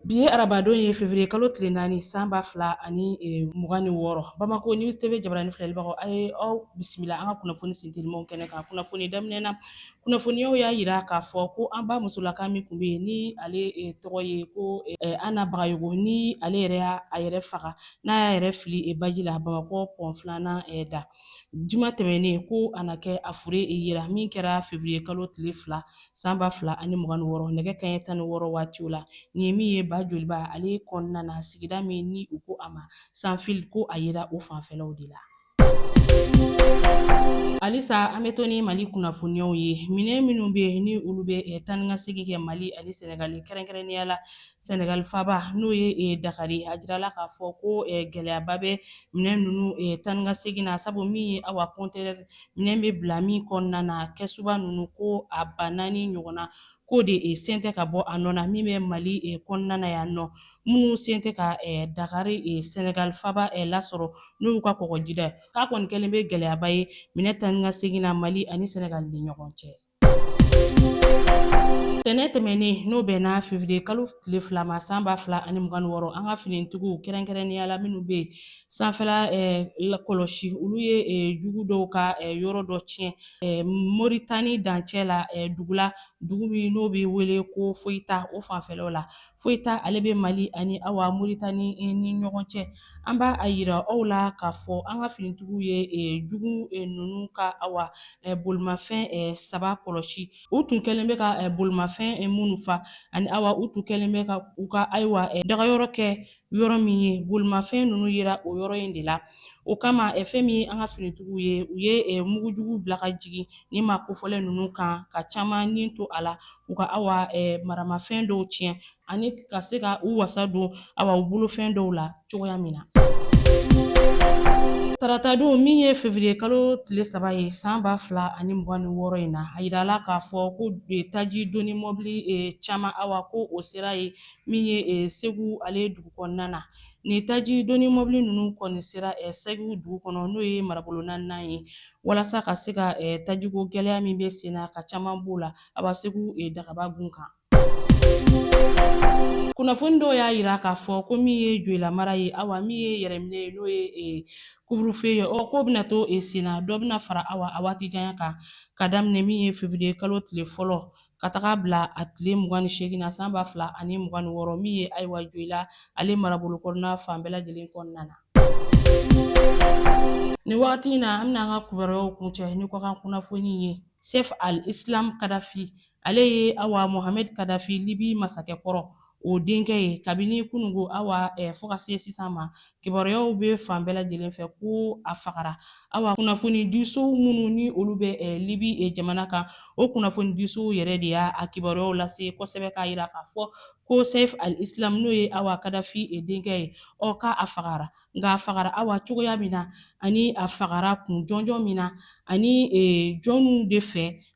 Bi ye arabadon ye fevrier kalo tile naani san ba fila ani e, mugan ni wɔɔrɔ Bamako News TV jabarani filɛlibagaw a ye aw bisimila an ka kunnafoni sintelimaw kɛnɛ kan. Kunnafoni daminɛ na, kunnafoniyaw y'a yira k'a fɔ ko an ba musolaka min kun bɛ yen ni ale e, tɔgɔ ye ko e, Anna Bagayogo ni ale yɛrɛ y'a a yɛrɛ faga n'a y'a yɛrɛ fili e, baji la Bamakɔ pɔn filanan e, da. juma tɛmɛnen ko a na kɛ a fure yera min kɛra fevriye kalo tile fila san ba fila ani mugan ni wɔɔrɔ nɛgɛ kaɲɛ tan ni wɔɔrɔ waatiw la nin ye min ye ba joliba ale kɔnɔna na sigida min ni u ko a ma sanfil ko a yera o fanfɛlaw de la halisa an bɛ to ni mali kunnafoniyaw ye minɛn minnu bɛ ni olu bɛ eh, taa ni ka segin kɛ mali ani sɛnɛgali kɛrɛnkɛrɛnnenya la Senegal faba n'o ye eh, Dakari a jirala k'a fɔ ko eh, gɛlɛyaba bɛ minɛn ninnu eh, taa ni ka segin na sabu min ye awa kɔntɛnɛri minɛn bɛ bila min kɔnɔna na kɛsuba ninnu ko a ba naani ɲɔgɔnna k'o de eh, sen tɛ ka bɔ a nɔ na min bɛ Mali eh, kɔnɔna na yan nɔ minnu sen tɛ ka eh, Dakari eh, Senegal faba eh, lasɔrɔ n'o y'u ka kɔgɔjida ye k'a kɔni kɛlen bɛ gɛlɛyaba ye minɛn taa ni ka segin na Mali ani Senegal ni ɲɔgɔn cɛ. Tɛnɛ tɛmɛnen n'o bɛnna fevriye kalo tile fila ma san ba fila ani mugan ni wɔɔrɔ an ka finitigiw kɛrɛnkɛrɛnnenya la minnu bɛ sanfɛla kɔlɔsi olu ye jugu dɔw ka yɔrɔ dɔ tiɲɛ moritani dancɛ la dugula dugu min n'o bɛ wele ko foyita o fanfɛlaw la foyita ale bɛ mali ani awa moritani ni ɲɔgɔn cɛ an b'a yira aw la k'a fɔ an ka finitigiw ye jugu ninnu ka awa bolimafɛn saba kɔlɔsi u tun kɛlen bɛ ka bolimafɛn minnu fa ani awa u tun kɛlen bɛ ka u ka ayiwa dagayɔrɔ kɛ yɔrɔ min ye bolimafɛn ninnu yera o yɔrɔ in de la o kama fɛn min ye an ka finitigiw ye u ye mugujugu bila ka jigin nin maa kofɔlen ninnu kan ka caman ni to a la u ka awa maramafɛn dɔw tiɲɛ ani ka se ka u wasa don awa u bolofɛn dɔw la cogoya min na taratadon min ye fevriye kalo tile saba ye san ba fila ani mugan ni wɔɔrɔ in na a yirala k'a fɔ ko taji doni mɔbili e, caman awa ko o sera ye min ye e, segu ale dugu kɔnɔna na nin taji doni mɔbili ninnu kɔni sera e, segu dugu kɔnɔ n'o ye marabolo naaninan ye walasa ka se ka tajiko gɛlɛya min bɛ sen na ka caman b'o la awa segu dagaba gun kan kunnafoni dɔw y'a yira k'a fɔ ko min ye joyila mara ye awa min ye yɛrɛminɛ ye n'o ye e, couvre-feu ye ɔ k'o bɛna to e, sen na dɔ bɛna fara awa a waati janya kan ka daminɛ min ye fevriye kalo tile fɔlɔ ka taga bila a tile mugan ni seegin na san ba fila ani mugan ni wɔɔrɔ min ye ayiwa joyila ale marabolo kɔnɔna fan bɛɛ lajɛlen kɔnɔna na. nin wagati in na an bɛna an ka kibaruyaw kuncɛ ni kɔkan kunnafoni ye sɛf al islam kadafi Ale ye awa Mohamed Kadafi Libi masakɛ kɔrɔ o denkɛ ye kabini kunungo awa eh, fo ka se sisan ma. Kibaruyaw bɛ fan bɛɛ lajɛlen fɛ ko a fagara. Awa kunnafonidisow minnu ni olu bɛ eh, Libi eh, jamana kan, o kunnafonidisow yɛrɛ de y'a a kibaruyaw lase kosɛbɛ k'a jira k'a fɔ ko Saif al-Islam n'o ye awa Kadafi eh, denkɛ ye, ɔ k'a a fagara. Nka a fagara awa cogoya min na, ani a fagara kun jɔnjɔn min na, ani eh, jɔniw de fɛ,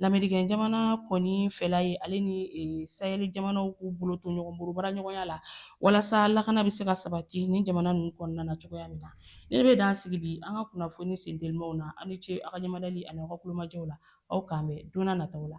lamerikɛn jamana kɔni fɛla ye ale ni e, Sahɛli jamanaw k'u bolo to ɲɔgɔn bolo baaraɲɔgɔnya la walasa lakana bɛ se ka sabati ni jamana ninnu kɔnɔna na cogoya min na ne bɛ dan sigi bi an ka kunnafoni sentelimaw na aw ni ce aw ka ɲɛmadali ani aw ka tulomajɔ la aw k'an bɛn don na nataw la